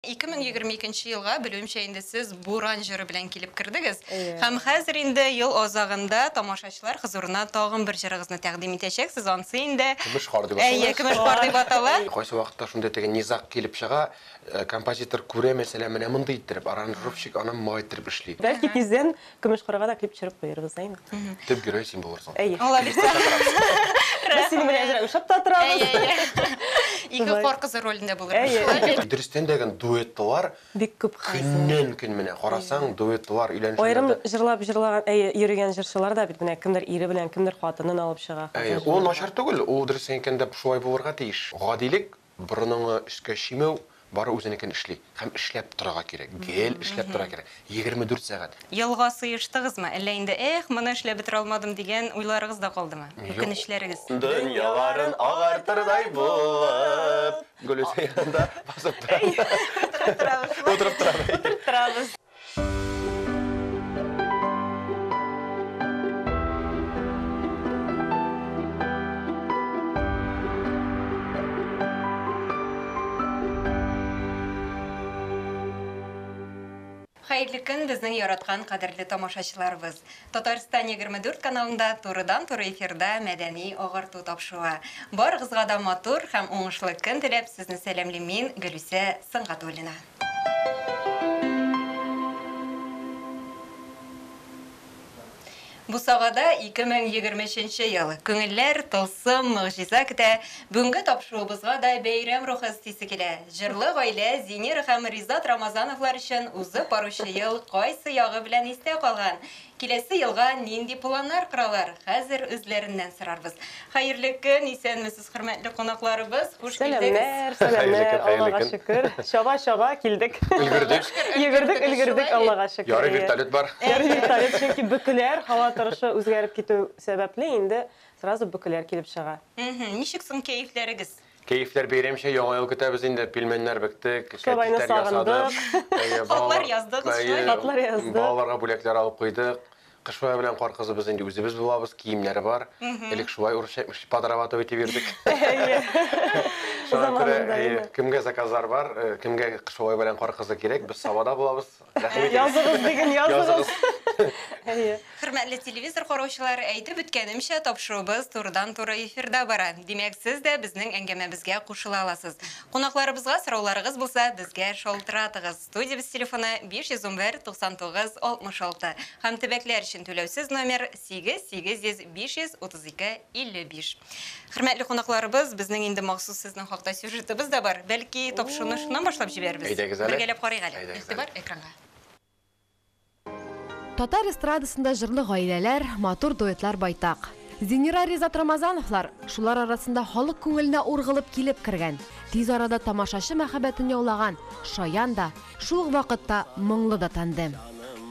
2022 елга, белүемчә, инде сез Буран җыры белән килеп кердегез. Һәм хәзер инде ел азагында тамашачылар хозурына тагын бер җырыгызны тәкъдим итәчәксез, ансы инде. Көмеш кар дип атала. Әйе, Көмеш кар дип атала. Кайсы вакытта шундый теге низаг килеп чыга, композитор күрә, мәсәлән, менә мондый иттереп, аранжировщик аны моңайттерып эшли. Бәлки тиздән Көмеш кырга да клип төшереп куербыз, әйме? Төп герой син булырсың. Әйе. Без синең белән әзрәк очып та торабыз. Ике кар кызы ролендә булырбыз. Дөрестән дә генә дуэтлар бик күп көннән-көн менә карасаң, дуэтлар өйләнешүләрдә. Аерым җырлап җырлаган, әйе, йөрегән җырчылар да бит менә кемдер ире белән, кемдер хатынын алып чыга. Әйе, ул начар түгел, ул дөрестән әйткәндә шулай булырга тиеш. Гадилек Борыныңны өскә чөймәү, бары үзенекен эшли. Һәм эшләп торырга кирәк, гел эшләп торырга кирәк, егерме дүрт сәгать. Елга сыештыгызмы, әллә инде, эх, моны эшләп бетерә алмадым, дигән уйларыгыз да калдымы? Үкенечләрегез? Дөньяларын агартырдай булып, Гөлүзә янында басып тора. Утырып торабыз. Утырып торабыз. Хәерле көн, безнең яраткан кадерле тамашачыларыбыз. Татарстан 24 каналында турыдан-туры эфирда мәдәни агарту тапшыруы. Барыгызга да матур һәм уңышлы көн теләп, сезне сәламлим мин, Гөлүсә Сынгатуллина. Бусагада 2023 ел. Күңелләр тылсым, могҗиза көтә. Бүгенге тапшыруыбызга да бәйрәм рухы өстисе килә. Җырлы гаилә Зинер һәм Ризат Рамазановлар өчен узып баручы ел кайсы ягы белән истә калган? Киләсе елга нинди планнар коралар? Хәзер үзләреннән сорарбыз. Хәерле көн, исәнмесез, хөрмәтле кунакларыбыз, хуш килдегез. Сәламнәр, сәламнәр, Аллага шөкер, чаба, чаба килдек. Өлгердек. Йөгердек, өлгердек, Аллага шөкер. Ярый вертолет бар. Ярый вертолет, чөнки бөкеләр, һава торышы үзгәреп китү сәбәпле, инде сразу бөкеләр килеп чыга. Ничек соң кәефләрегез? Кәефләр бәйрәмчә, яңа ел көтәбез инде, пилмәннәр бектек, Шулайны кәтитләр ясадык. сагындык. Хатлар яздыгыз, Әйе, шулай. Хатлар яздык. Балаларга бүләкләр алып куйдык. Кыш бабай белән кар кызыбыз инде үзебез булабыз, киемнәре бар. Элек шулай урысча әйтмешли, подрабатывать дип йөрдек. Әйе. Шуңа күрә, Заманында, әйе, әйе. кемгә заказлар бар, э, кемгә кыш бабай белән кар кызы кирәк, без Сабада булабыз. Рәхмәт. Языгыз диген, языгыз. Әйе. Хөрмәтле телевизор караучылар, әйтеп үткәнемчә, тапшыруыбыз турыдан-туры эфирда бара. Димәк, сез дә безнең әңгәмәбезгә кушыла аласыз. Кунакларыбызга сорауларыгыз булса, безгә шалтыратыгыз. Студиябез телефоны 511 99 66 һәм төбәкләр өчен түләүсез номер Сигез, сигез йөз, биш йөз, утыз ике, илле биш. Хөрмәтле кунакларыбыз, безнең инде махсус сезнең хакта сюжетыбыз да бар. Бәлки, тапшыруны шуннан башлап җибәрербез? Әйдәгез әле. Бергәләп карыйк әле. Әйдәгез әле. Игътибар экранга. Татар эстрадасында җырлы гаиләләр, матур дуэтлар байтак. Зинира Ризат Рамазановлар шулар арасында халык күңеленә ургылып килеп кергән, тиз арада тамашачы мәхәббәтен яулаган Шаян да, Шул ук вакытта моңлы да тәнле.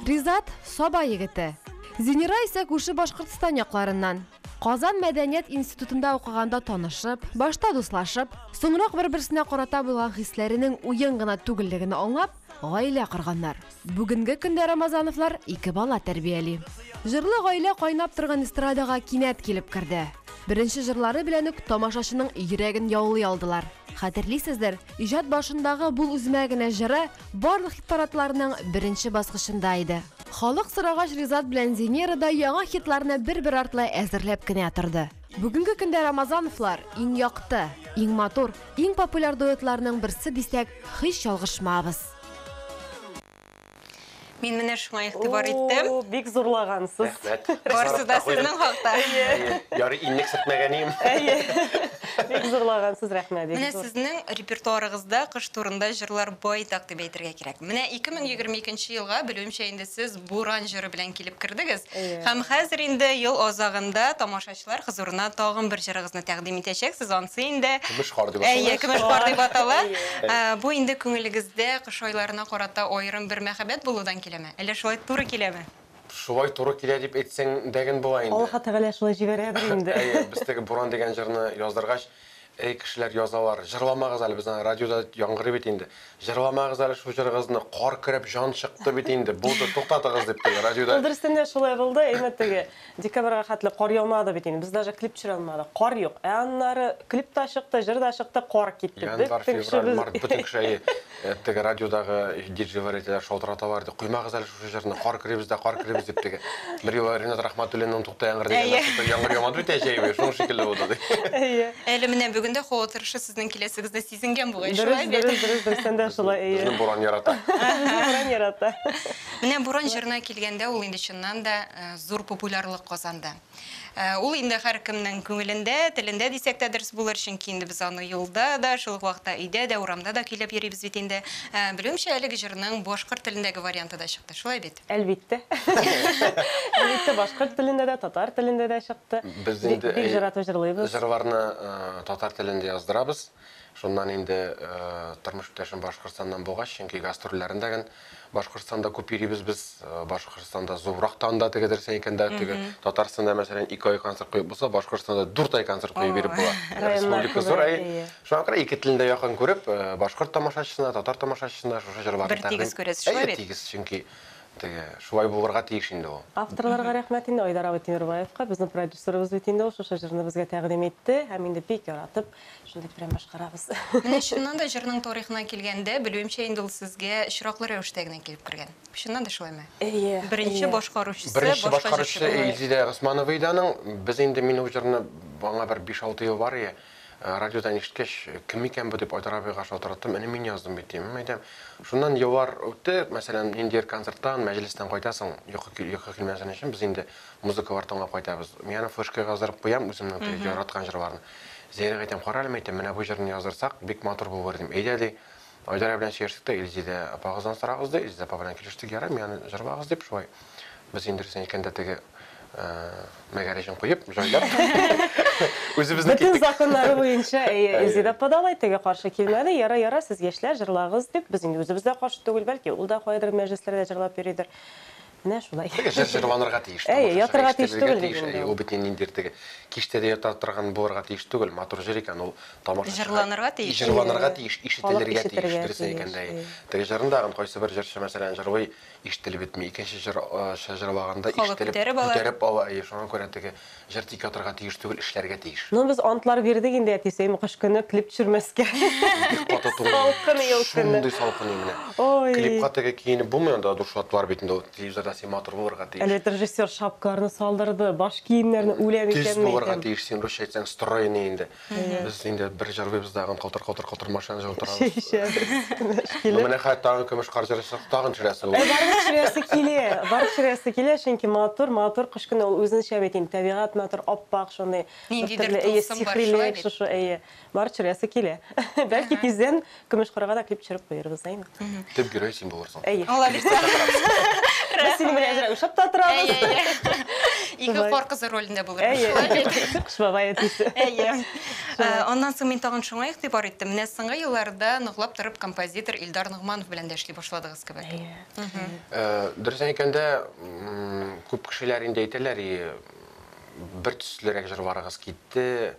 Ризат, Саба егете. Зинира исә күрше Башкортстан якларыннан. Казан мәдәният институтында укыганда танышып, башта дуслашып, соңрак бер-берсенә карата булган хисләренең уен гына түгеллеген аңлап, гаилә корганнар. Бүгенге көндә Рамазановлар ике бала тәрбияли. Җырлы гаилә кайнап торган эстрадага кинәт килеп керде. Беренче җырлары белән үк тамашачының йөрәген яулый алдылар. Хәтерлисездер, иҗат башындагы бул үземә генә җыры барлык хит-парадларның беренче баскычында иде. Халык сорагач, Ризат белән Зинера да яңа хитларны бер-бер артлы әзерләп кенә торды. Бүгенге көндә Рамазановлар, иң якты, иң матур, иң популяр дуэтларның берсе дисәк, һич ялгышмабыз. Мин менә шуңа игътибар иттем. О, бик зурлагансыз. Рәхмәт. Барысы да сезнең хакта. Әйе. Ярый, иннек сөртмәгәнем. Әйе. Бик зурлагансыз, рәхмәт. Менә сезнең репертуарыгызда кыш турында җырлар байтак дип әйтергә кирәк. Менә 2022 елга, белүемчә, инде сез Буран җыры белән килеп кердегез. Һәм хәзер инде ел азагында тамашачы Укучылар хозурына тагын бер җырыгызны тәкъдим итәчәксез, ансы инде Көмеш кар дип атала. Әйе, көмеш кар дип атала. Ә, Бу инде күңелегездә кыш айларына карата аерым бер мәхәббәт булудан киләме? Әллә шулай туры киләме? Шулай туры килә дип әйтсәң дә гел була инде. Аллаһы Тәгалә шулай җибәрәдер инде. Әйе, без теге Буран дигән җырны яздыргач, Әй кешеләр язалар, җырламагыз әле, безнең радиода яңгырый бит инде. Җырламагыз әле шул җырыгызны, кар көрәп җан чыкты бит инде, булды, туктатыгыз дип теге радиода. Ул дөрестән дә шулай булды, әймә теге декабрьга хәтле кар яумады бит инде, без даже клип төшерә алмадык, кар юк. Ә аннары клип та чыкты, җыр да чыкты, кар китте, бөтен кешебез. Январь, февраль, март, бөтен кеше әйе, Теге радиодагы диджейлар әйтәләр, шалтыраталар ди. Коймагыз әле шушы җырны, кар керибез дә, кар керибез дип теге. Бер юлы Ринат Рахматуллинның Тукта яңгыр дигәндә тукта яңгыр ямады бит әҗәйбе, шуның шикелле булды ди. Әйе. Әле менә бүген дә һава торышы сезнең киләсегезне сизенгән бугай, шулай бит? Дөрес, дөрес, дөрес, сәндә шулай, әйе. Безне буран ярата. Буран ярата. Менә буран җырына килгәндә, ул инде чыннан да зур популярлык казанды. Ул инде һәркемнең күңелендә, телендә дисәк тә дөрес булыр, чөнки инде без аны юлда да, шул ук вакытта өйдә дә, урамда да көйләп йөрибез бит инде. Белүемчә, әлеге җырның башкорт телендәге варианты да чыкты, шулай бит? Әлбиттә. Әлбиттә, башкорт телендә дә, татар телендә дә чыкты. Без инде җырларны татар телендә яздырабыз. Шуннан инде тормыш иптәшем Башкортстаннан булгач, чөнки гастрольләрендә ген Башкортстанда күп йөрибез без. Башкортстанда зуррак та анда теге дөресен әйткәндә, теге Татарстанда мәсәлән ике ай концерт куеп булса, Башкортстанда дүрт ай концерт куеп биреп була. Республика зур, әй. Шуңа күрә ике телне дә якын күреп, башкорт тамашачысына, татар тамашачысына шушы җырларны тәкъдим. Бер тигез күрәсез, шулай бит? Әйе, тигез, чөнки теге шулай булырга тиеш инде ул. Авторларга рәхмәт инде, Айдар абый Тимербаевка, безнең продюсерыбыз бит инде ул шушы җырны безгә тәкъдим итте һәм инде бик яратып Шундый прям башкарабыз. Менә чыннан да җырның тарихына килгәндә, белүемчә инде ул сезгә очраклы рәвештә генә килеп кергән. Чыннан да шулаймы? Әйе. Беренче әйе. башкаручысы, Беренче башка башкаручы җырчы булмый. Илзилә Госманова иде аның. Без инде мин ул җырны аңа бер 5-6 ел бар ие. Э, Радиодан ишеткәч, кем икән бу дип Айдар абыйга шалтыраттым. Әнә мин яздым бит дим. М, Әйтәм, шуннан еллар үтте. Мәсәлән, ниндидер концерттан, мәҗлестән кайтасың, йокы кил- йокы килмәсен өчен без инде музыкалар тыңлап кайтабыз. Мин аны флешкага яздырып куям үземнең теге яраткан җырларны. Зәйнәп әйтәм, карале, мәйтәм, менә бу җырны яздырсак, бик матур булыр, дим. Әйдә, ди, Айдара белән сөйләштек тә, Илзидә апагыздан сорагыз, ди, Илзидә апа белән килештек, ярый, мин аны җырлагыз, дип, шулай без инде рәсән икән дә теге мәгәрәҗен куеп, җайлап. Үзебезнең киттек. Бөтен законнары буенча, әйе, Илзидә апа да алай, теге каршы килмәде, ярый, ярый, сез яшьләр, җырлагыз, дип, без инде үзебез дә каршы түгел, бәлки, ул да каядыр мәҗлесләрдә җырлап йөридер. Менә шулай. Теге җыр җырланырга тиеш. Әйе, ятырга тиеш түгел бит инде ул. Ул бит ниндидер теге киштә дә ята торган булырга тиеш түгел. Матур җыр икән ул. Тамашачыга җырланырга тиеш. Җырланырга тиеш, ишетелергә тиеш. Дөрес әйткәндә, әйе. Теге җырны да кайсы бер җырчы, мәсәлән, җырлый, ишетелеп бетми. Икенче җырчы җырлаганда ишетелеп, күтәреп ала. Әйе, шуңа күрә теге Җыр тик ятырга тиеш түгел, эшләргә тиеш. Ну без антлар бирдек инде әтисеем кыш көне клип төшермәскә. Бик каты түгел. Салкын ел көне. Шундый салкын ел менә. Ой. Клипка теге киенеп булмый анда дуршла атлар бит инде ул телевизорда син матур булырга тиеш. Әле режиссер шапкаларны салдырды, баш киемнәрне үләм икәнме икән. Төз булырга тиеш син русча әйтсәң стройный инде. Без инде бер җырлыйбыз да, калтыр-калтыр-калтыр машина җылы торабыз. Бу менә хәтта тагын көмеш кар җырыйсы, тагын төшерәсе ул. Барыбер төшерәсе килә, барыбер төшерәсе килә, чөнки матур, матур кыш көне ул үзенчә бит инде, табигать матур, ап-ак шундый. Ниндидер тылсым бар, шулай бит? Барыбер төшерәсе килә. Бәлки тиздән Көмешкырга да клип төшереп куербыз, әйме? Төп герой син булырсың. Әйе. Молодец. Без синең белән әзрәк уйшап та торабыз. Ике кар кызы ролендә булырбыз. Әйе. Кыш бабай әтисе. Әйе. Аннан соң мин тагын шуңа игътибар иттем. Менә соңгы елларда ныклап торып композитор Илдар Ногманов белән дә эшли башладыгыз кебек. Әйе. Дөресен әйткәндә, күп кешеләр инде әйтәләр, бертөслерәк җырларыгыз китте.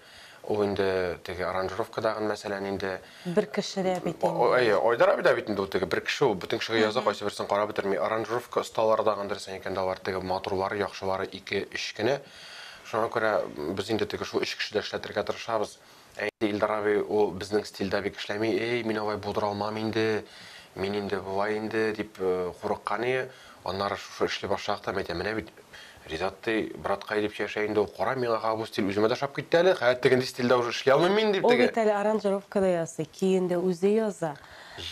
Ул инде теге аранжировкадагы мәсьәлә инде. Бер кеше дә бит инде. Әйе, Айдар абый да бит инде ул теге бер кеше ул. Бөтен кешегә яза, кайсы берсен карап бетерми. Аранжировка осталары да гандыр исән икән дә алар теге матурлары, яхшылары ике, өч кенә. Шуңа күрә без инде теге шул өч кеше дә эшләтергә тырышабыз. Ә инде Илдар абый ул безнең стильдә бик эшләми. Эй, мин алай булдыра алмам инде. Мин инде болай инде, дип курыккан ие. Аннары шушы эшли башлагач та мин әйтәм, менә бит Ризат ди, браткай дип чәчә инде ул, кара, миңа ха бу стиль үземә дә ошап китте әле, хәер тегенди стильдә уже эшли алмыйм мин, дип Ул теге. бит әле аранжировка да ясый, көен дә үзе яза.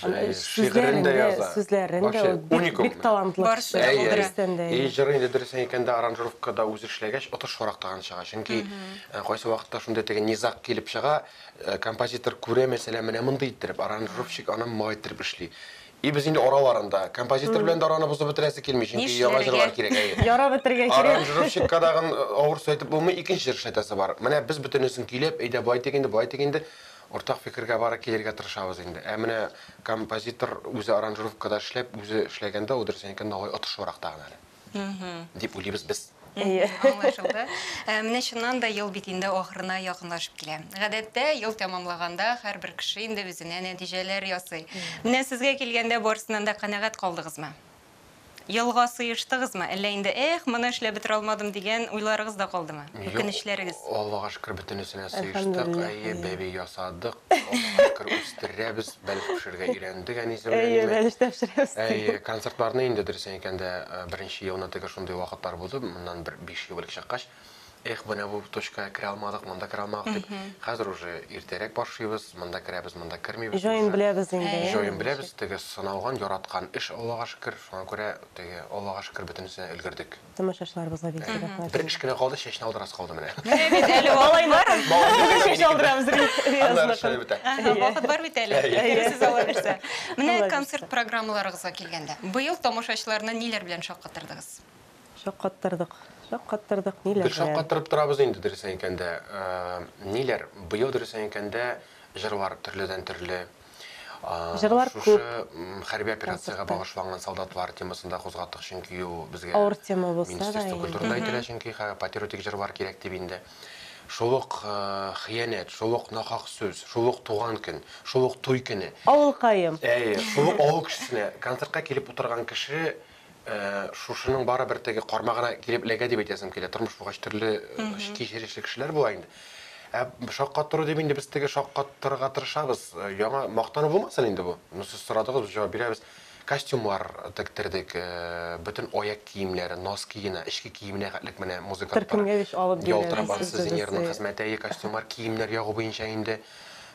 Аны Җае, шигырен дә сүзләрен яза. Сүзләрен дә Вообще, ул бик, уникум. бик талантлы Барысы кеше. да Әйе, булдыра. Берсен дә, әйе. әйе. И җыры инде дөрес әйткәндә аранжировка да үзе эшләгәч отышлырак торган чыга, чөнки э, кайсы вакытта шундый теге низаг килеп чыга, э, композитор күрә мәсәлән менә мондый иттереп, аранжировщик аны моңа иттереп эшли. И без инде араларында. Композитор белән дә араны бозып бетерәсе килми, чөнки яңа җырлар кирәк, әйе. Яра бетергә кирәк. Аранжировщикка дагын авырсу әйтеп булмый, икенче җыр эшләтәсе бар. Менә без бөтенесен көйләп, әйдә болай итик инде, болай итик инде, уртак фикергә бары килергә тырышабыз инде. Ә менә композитор үзе аранжировкада эшләп, үзе эшләгәндә, ул дөресен әйткәндә алай отышлырак тагын әле. дип уйлыйбыз без. Әйе. Аңлашылды. Э, менә чыннан да ел бит инде ахырына якынлашып килә. Гадәттә ел тәмамлаганда һәрбер кеше инде үзенә нәтиҗәләр ясый. Менә сезгә килгәндә барысыннан да канәгать калдыгызмы? Елга сыештыгызмы? Әллә инде эх, моны эшләп бетерә алмадым дигән уйларыгыз да калдымы? Үкенечләрегез? Аллага шөкер, бөтенесенә сыештык. Әйе, бәби ясадык. Бакыр үстерәбез, бәлеш пешерергә өйрәндек әнисе белән. Әйе, бәлеш тә пешерәбез. Әйе, концертларны инде дөресен әйткәндә, беренче елны теге шундый вакытлар булды, моннан бер 5 ел элек чыккач, эх, менә бу точка керә алмадык, монда керә алмадык дип. Хәзер уже иртәрәк башлыйбыз, монда керәбез, монда кермибез. Җаен беләбез инде. Җаен беләбез, теге сыналган, яраткан эш, Аллага шөкер. Шуңа күрә теге, Аллага шөкер, бөтенесенә өлгердек. Тамашачыларыбызга бик зур рәхмәт. Бер эш кенә калды, чәчне алдырасы калды менә. Менә бит әле вакыт бар. Бүген чәч алдырамыз Риязның. Вакыт бар бит әле. Әйтерсез алар эшләр. Менә концерт программаларыгызга килгәндә, быел тамашачыларны ниләр белән шаккатырдыгыз? Шаккаттырдык, шаккаттырдык, ниләр белән? Без шаккаттырып торабыз инде, дөресен әйткәндә. Ниләр? Быел, дөресен әйткәндә, җырлар төрледән-төрле. Җырлар күп. Шушы хәрби операциягә багышланган солдатлар темасын да кузгаттык, чөнки ул безгә. Авыр тема булса да инде. Министерство культурада әйтелә, чөнки патриотик җырлар кирәк дип инде. Шул ук хыянәт, шул ук нахак сүз, шул ук туган көн, шул ук туй көне. Авылкаем. Әйе, шул ук авыл кешесенә. Концертка килеп утырган кеше Шушының барыбер теге кармагына килеп эләгә дип әйтәсем килә. Тормыш булгач төрле кичерешле кешеләр була инде. Ә шаккаттыру дип инде без теге шаккаттырырга тырышабыз. Яңа мактану булмасын инде бу. Ну сез сорадыгыз, без җавап бирәбез. Костюмнар тектердек, бөтен аяк киемнәре, носки гына, эчке киеменә хәтлек менә музыкантлар. Төркемгә бит алып бирәләр. Ялтырап ансыз инженерның хезмәте, костюмнар, киемнәр ягу буенча инде.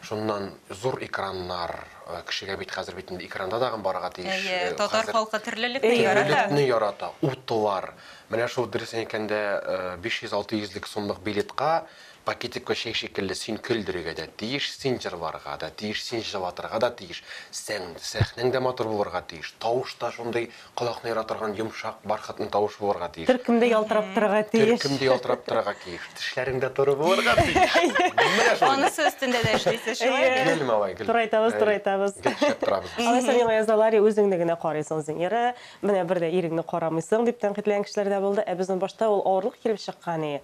Шуннан зур экраннар, э, кешегә бит хәзер бит инде экранда тагын барырга тиеш. Әйе, Э, татар хәзер халкы төрлелекне Әйе. ярата. Төрлелекне ярата, утлар. Менә шул дөресен әйткәндә, э, 500-600 лек сумлык билетка пакетикка чәй шикелле син көлдерергә дә тиеш, син җырларга да тиеш, син җылатырга да тиеш, сән, сәхнәң дә матур булырга тиеш, тавыш та шундый Колакны яратырган йомшак, бархатны тавыш булырга тиеш. Төркем дә ялтырап торырга тиеш. Төркем дә ялтырап торырга тиеш. Тешләрең дә туры булырга тиеш. Менә шундый. Анысы өстендә дә эшлисез, шулай бит? Гел малай, гел. Турайтабыз, турайтабыз. Гел эшләп торабыз без. Алайса миңа язалар, үзеңне генә карыйсың, Зинира. Менә бер дә иреңне карамыйсың, дип тәнкыйтьләгән кешеләр дә булды. Ә безнең башта ул авырлык килеп чыккан, и.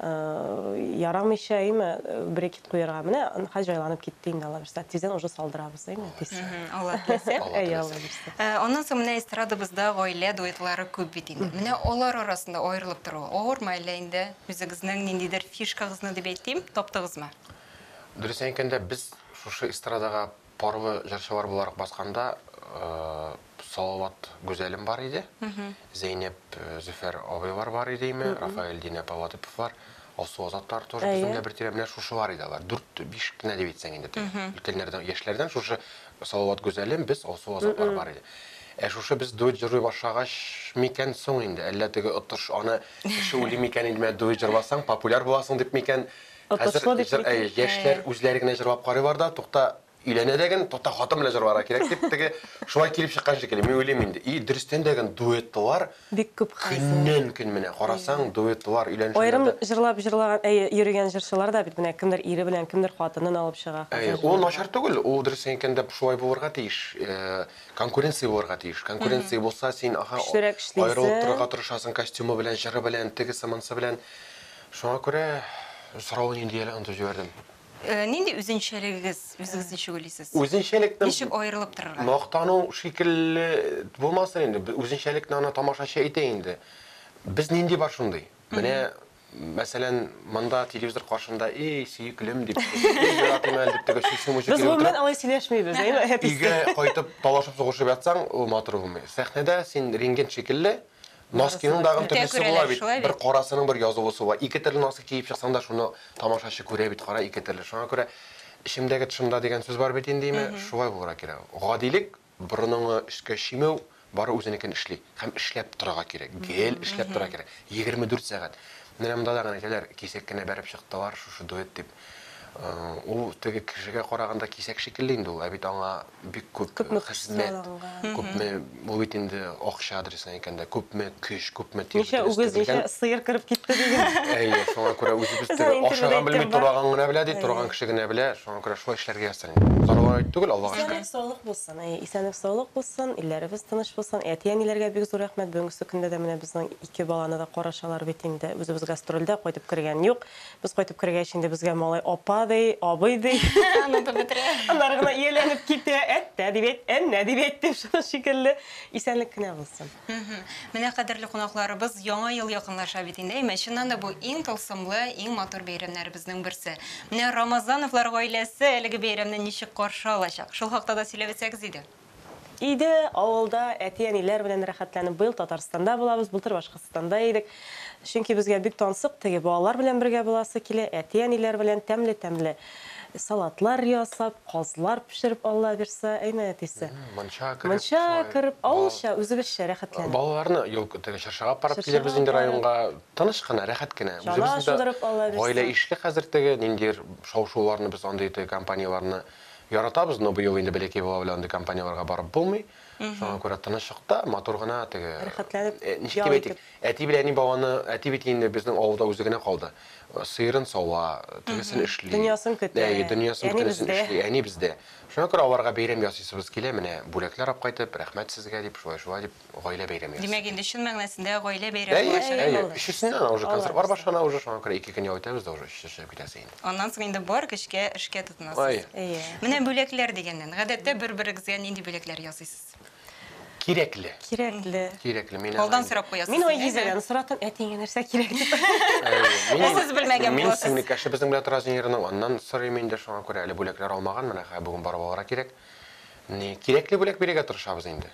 ярамыйча әйме брекет куярга менә хәзер җайланып китте инде алла бирса тиздән уже салдырабыз әйме тиз алла теләсә аннан соң менә эстрадабызда гаилә дуэтлары күп бит инде менә алар арасында аерылып тору авырмы әллә инде үзегезнең ниндидер фишкагызны дип әйтим таптыгызмы дөресен әйткәндә без шушы эстрадага Парлы җырчылар буларак басканда Салават Гүзәлем бар иде, Зәйнәп Зөфәр абыйлар бар иде име, Рафаэль Динә Паллатыповлар, Алсу Азатлар тоже безнең дә бер тирә, менә шушылар иде алар, дүрт-биш кенә дип әйтсәң инде теге өлкәннәрдән, яшьләрдән шушы Салават Гүзәлем, без, Алсу Азатлар бар иде. Ә шушы без дуэт җырлый башлагач микән соң инде, әллә теге отыш аны кеше уйлый микән инде, менә дуэт җырласаң популяр буласың дип микән, Тотышлы дип Хәзер әй, яшьләр үзләре генә җырлап карыйлар да, тукта, өйләнә дә ген, тукта, хатын белән җырларга кирәк дип, теге шулай килеп чыккан шикелле, мин уйлыйм инде. И, дөрестән дә ген дуэтлар бик күп хәзер. Көннән-көн менә карасаң, дуэтлар өйләнешүләрдә. Аерым җырлап җырлаган, әйе, йөрегән җырчылар да бит менә кемдер ире белән, кемдер хатынын алып чыга хәзер. Әйе, ул начар түгел, ул дөрестән әйткәндә шулай булырга тиеш, конкуренция булырга тиеш. Конкуренция булса, син, аһа, аерылып торырга тырышасың, костюмы белән, җыры белән, тегесе-монысы белән. Шуңа күрә соравын инде әле онытып җибәрдем. Нинди үзенчәлегегез, үзегез ничек уйлыйсыз? Үзенчәлекне Ничек аерылып торырга? Мактану шикелле булмасын инде, үзенчәлекне аны тамашачы әйтә инде. Без нинди бар шундый. Менә, мәсәлән, монда телевизор каршында, эй, сөеклем, дип, эй, яратыйм әле, дип теге чүчне мучып йөреп утырып. Без гомумән алай сөйләшмибез, әйме? Өйгә кайтып талашып сугышып ятсаң, ул матур булмый. Сәхнәдә син рентген шикелле, Носкиның да агын төрлесе була бит. Бер карасының бер язылысы була. Ике төрле носки киеп чыксаң да, шуны тамашачы күрә бит, кара, ике төрле. Шуңа күрә эчемдәге тышымда дигән сүз бар бит инде, име, шулай булырга кирәк. Гадилек, борыныңны өскә чөймәү, бары үзенекен эшли. Һәм эшләп торырга кирәк, гел эшләп торырга кирәк. 24 сәгать. Менә монда да гына әйтәләр, кисәк кенә бәреп чыктылар шушы дуэт дип. Ул теге кешегә караганда кисәк шикелле инде ул, ә бит аңа бик күп хезмәт, күпме, бу бит инде акча адресына әйткәндә, күпме көч, күпме тир бетергән. Ничә үгез, ничә сыер кереп китте диген. Әйе, шуңа күрә үзебез төрле ашаган белми, тораган гына белә, ди, торган кеше генә белә, шуңа күрә шулай эшләргә язсын инде. Зарыган әйт түгел, Аллага шөкер. Исәнлек, саулык булсын. Әйе, исәнлек, саулык булсын, илләребез тыныч булсын. Әти-әниләргә бик зур рәхмәт, бүгенгесе көндә дә менә безнең ике баланы да карашалар бит инде. Үзебез гастрольдә, кайтып кергән юк. Без кайтып кергәч, инде безгә малай апа ди, абый ди. Онытып бетерә. Аннары гына ияләнеп китә. Әттә дип әйт, әннә дип әйт дип шуның шикелле. Исәнлек кенә булсын. Менә, кадерле кунакларыбыз, Яңа ел якынлаша бит инде. Әмма чыннан да бу иң тылсымлы, иң матур бәйрәмнәребезнең берсе. Менә Рамазановлар гаиләсе әлеге бәйрәмне ничек каршы алачак? Шул хакта да сөйләп үтсәгез иде. Иде, авылда әти-әниләр белән рәхәтләнеп. Быел Татарстанда булабыз, былтыр Башкортстанда идек. Чөнки безгә бик тансык теге, балалар белән бергә буласы килә, әти-әниләр белән тәмле-тәмле салатлар ясап, казлар пешереп, Аллабирса, әйме, әтисе? Мунча кереп, Мунча шулай. кереп, авылча, үзебезчә рәхәтләнеп. Балаларны юл, теге Чыршыга апарып килербез инде районга. Тыныч кына, рәхәт кенә. Чана шудырып, Аллабирса. Гаилә ишле хәзер теге, ниндидер шау-шуларны без андый теге компанияләрне Яратабыз, но быел инде бәләкәй бала белән андый компанияләргә барып булмый. Шуңа күрә тынычлыкта, матур гына теге, Рәхәтләнеп ничек ял дип әйтик, итеп. әти белән әни баланы, әти бит инде безнең авылда үзе генә калды. Сыерын сава, тегесен эшли. Дөньясын көтә. Әйе, дөньясын Әни бөтенесен бездә. эшли, әни бездә. Шуңа күрә аларга бәйрәм ясыйсыбыз килә, менә бүләкләр алып кайтып, рәхмәт сезгә дип, шулай-шулай дип. гаилә бәйрәме ясый. Димәк, инде чын мәгънәсендә гаилә бәйрәме булачак. Әйе, әйе. Өчесеннән дә уже концертлар башлана уже, шуңа күрә ике көн ял итәбез дә уже өчесе чыгып китәсе инде. Аннан соң инде бар көчкә эшкә тотынасыз. Әйе. Менә бүләкләр дигәннән, гадәттә бер-берегезгә нинди бүләкләр ясыйсыз? Кирәкле. Кирәкле. Кирәкле. Мин алдан сорап куясыз. Мин Айгизәдән соратам, әтиеңә нәрсә кирәк дип. Әйе. Сез белмәгән буласыз. Мин сеңлекәше безнең белән тора Зинирның, аннан сорыйм инде, шуңа күрә әле бүләкләр алмаган, менә хәзер бүген барып алырга кирәк. Менә кирәкле бүләк бирергә тырышабыз инде.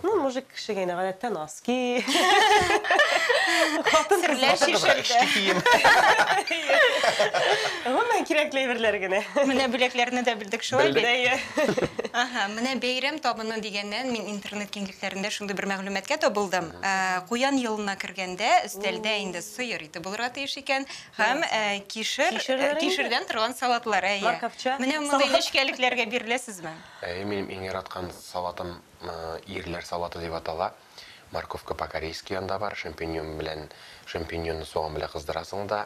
Ну, мужик кеше генә гадәттә носки. Хатын кызлар шешерде. Эшке кием. Гомумән кирәкле әйберләр генә. Менә бүләкләрне дә белдек шулай бит. Ага, менә бәйрәм табыны дигәннән мин интернет киңлекләрендә шундый бер мәгълүматка табылдым. Куян елына кергәндә өстәлдә инде сыер ите булырга тиеш икән һәм кишер, кишердән торган салатлар. Әйе. Менә мондый нечкәлекләргә биреләсезме? Әйе, минем иң яраткан салатым ирләр салаты дип атала. Морковка по-корейски анда бар, шампиньон белән, шампиньонны суган белән кыздырасың да,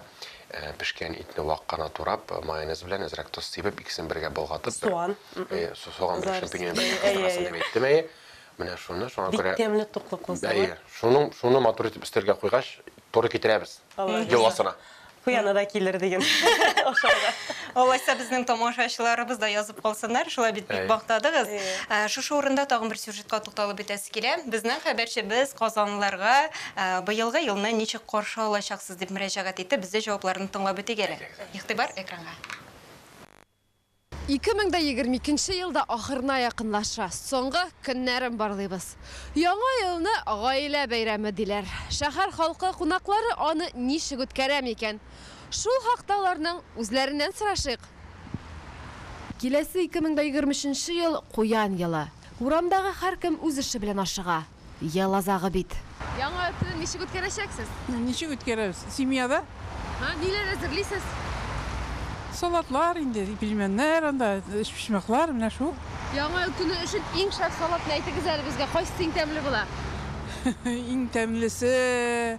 пешкән итне вак кына турап, майонез белән әзрәк тоз сибеп, икесен бергә болгатып, Суган. Әйе, суган белән шампиньон белән кыздырасың дип әйттем, әйе. Менә шуны, шуңа күрә. Бик тәмле, туклыклы салат. Әйе, шуны матур итеп өстәлгә куйгач, туры китерәбез. Йоласына. Хуяна да килер диген. Ошарга. Алайса безнең тамашачыларыбыз да язып калсыннар, шулай бит бик мактадыгыз. Ә, Шушы урында тагын бер сюжетка тукталып үтәсе килә. Безнең хәбәрчебез казанлыларга ә, быелгы елны ничек каршы алачаксыз дип мөрәҗәгать итте. Без дә җавапларны тыңлап үтик әле. Игътибар экранга. 2022 ел да ахырына якынлаша. Соңгы көннәрен барлыйбыз. Яңа елны гаилә бәйрәме диләр. Шәһәр халкы кунаклары аны ничек үткәрә микән? Шул хакта аларның үзләреннән сорашыйк. Киләсе 2023 ел, Куян елы. Урамдагы һәркем үз эше белән ашыга. Ел азагы бит. Яңа елны ничек үткәрәчәксез? Ничек үткәрәбез? Семьяда. Һа, ниләр әзерлисез? Салатлар инде, пельменнәр, анда өчпочмаклар, менә шул. Яңа ел көне өчен иң шәп салатны әйтегез әле безгә, кайсы иң тәмле була? Иң тәмлесе.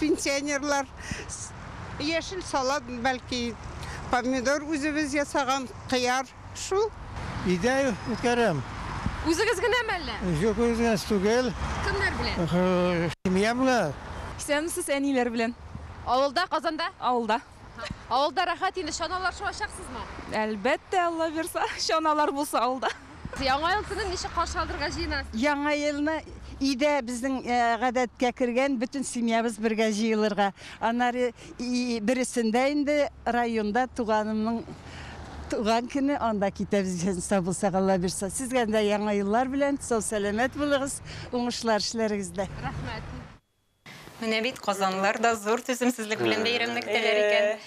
Пенсионерлар яшел салат, бәлки помидор үзебез ясаган, кыяр, шул. Өйдә үткәрәм. Үзегез генәме әллә? Юк, үзегез түгел. Кемнәр белән? Семья белән. Исәнмесез, әниләр белән. Авылда, Казанда? Авылда. Авылда рәхәт инде, чаналар шуачаксызмы? Әлбәттә, Алла бирса, чаналар булса авылда. Яңа ел көнен ничек каршы алырга җыенасыз? Яңа елны өйдә безнең гадәткә кергән бөтен семьябыз бергә җыелырга. Аннары бересендә инде районда туганымның туган көне, анда китәбез исән сау булсак, Алла бирса. Сезгә дә яңа еллар белән, сау-сәламәт булыгыз, уңышлар эшләрегездә. Рәхмәт. Менә бит казанлылар да зур түземсезлек белән бәйрәмне көтәләр икән.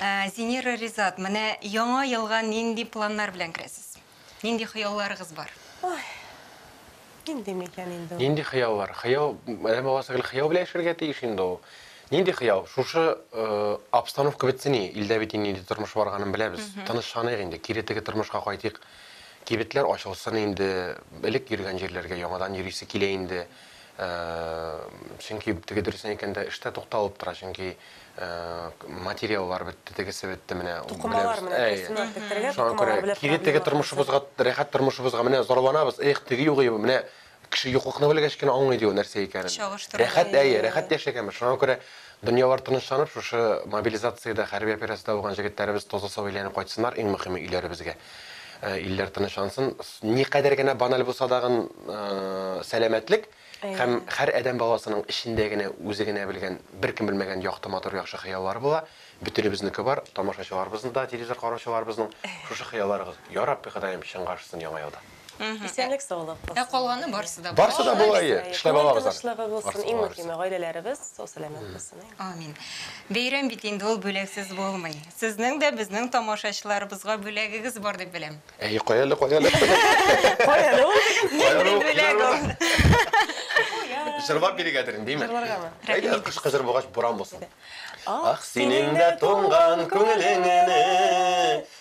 Ә, Зинира Ризат, менә яңа елга нинди планнар белән керәсез? Нинди хыялларыгыз бар? Ой, нинди микән инде ул? Нинди хыяллар? Хыял, әнә баласы гел хыял белән яшәргә тиеш инде ул. Нинди хыял? Шушы э, обстановка бетсен и, илдә бит инде нинди тормыш барганын беләбез. Тынычланыйк инде, кире теге тормышка кайтыйк. Кибетләр ачылсын инде, элек йөргән җирләргә яңадан йөрисе килә инде. Чөнки теге дөресен әйткәндә эштә тукталып тора, чөнки материаллар бетте, тегесе бетте, менә Тукымалар менә дөресен әйттерергә, тукымалар белән проблема. Кире теге тормышыбызга, рәхәт тормышыбызга менә зарланабыз, эх, теге юк иде, менә кеше юклыкны белгәч кенә аңлый ди ул нәрсә икәнен. Рәхәт, әйе, рәхәт яшәгәнбез. Шуңа күрә дөньялар тынычланып, шушы мобилизациядә, хәрби операциядә булган җегетләребез таза-сау әйләнеп кайтсыннар, иң мөхиме, өйләребезгә. Илләр тынычлансын. Никадәр генә баналь булса дагын сәламәтлек һәм һәр адәм баласының эчендә генә үзе генә белгән, беркем белмәгән якты матур яхшы хыяллары була. Бөтенебезнеке бар, тамашачыларыбызның да, телевизор караучыларыбызның шушы хыялларыгыз. Ярабби Ходаем чынга ашсын Яңа елда. Исәнлек саулык булсын. Ә калганы барсы да Барсы да була ие. Эшләп алабыз аны. Тынычлыгы булсын, иң мөһиме гаиләләребез сау сәламәт булсын. Амин. Бәйрәм бит инде ул бүләксез булмый. Сезнең дә безнең тамашачыларыбызга бүләгегез бар дип беләм. Әй, кай әле, кай әле. Кай әле ул диген. Нинди бүләк ул. Җырлап бирегәдер инде, димме? Җырларгамы? Әйдә, кышкы җыр булгач буран булсын. Ах, синең дә туңган күңелеңне.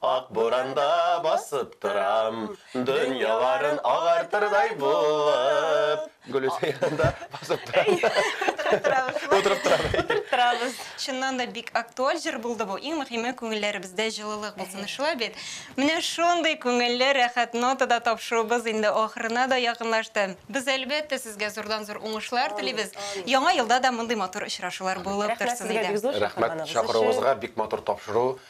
Ак буранда басып торам. Дөньяларын агартырдай булып. Гөлүсә янында басып торам. Утырып торабыз. Утырып торабыз. Утырып торабыз. Чыннан да бик актуаль җыр булды бу. Иң мөһиме, күңелләребездә җылылык булсын. Шулай бит? Менә шундый күңелле, рәхәт нотада тапшыруыбыз инде ахырына да якынлашты. Без, әлбәттә, сезгә зурдан-зур уңышлар телибез. Яңа елда да мондый матур очрашулар булып торсын иде. Рәхмәт сезгә, бик зур чакырганыгыз өчен. Рәхмәт чакыруыгызга, бик матур тапшыру.